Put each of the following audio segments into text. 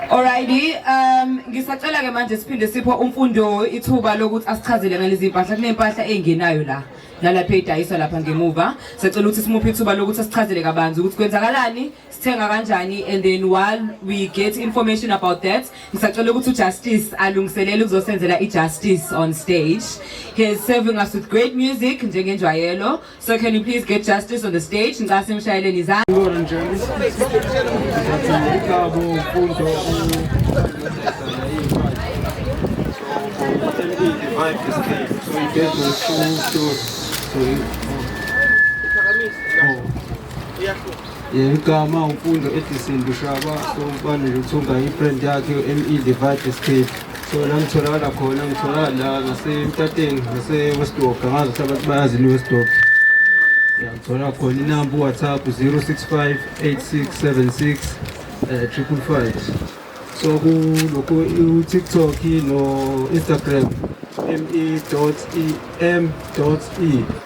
Alrighty, um ngisacela ke manje siphinde sipho umfundo ithuba lokuthi asichazele ngalezi impahla kunempahla engenayo la nalapha edayiswa lapha ngemuva sicela ukuthi simuphe ithuba lokuthi asichazele kabanzi ukuthi kwenzakalani sithenga kanjani and then while we get information about that ngisacela ukuthi uJustice alungiselele ukuzosenzela iJustice on stage he is serving us with great music njengenjwayelo So can you please get justice on the stage? Ngicela simshayeleni izandla. So Igama uMfundo Edison Bushaba sokubane nje ukuthi ungayi-brand yakhe u-ME Divide Escape so la ngitholakala khona ngitholakala la ngasemtateni ngase-westdorp angazi ukuthi abantu bayazi li-westdorp ngithola khona inamba uwhatsapp 065 8676 triple five so kulokhu utiktok no-instagram me dot e m dot e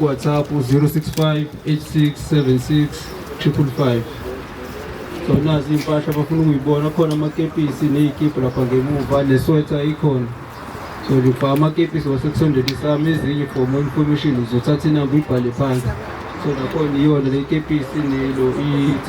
WhatsApp 065 8676 555 so nazi iy'mpahla abafuna ukuyibona khona amakepisi ney'kibhu lapha ngemuva neswetha ikhona so lifa amakepisi wasekusondela isami ezinye for more information uzothatha inamba uyibhale phansi so nakhona iyona le kepisi nelo i-t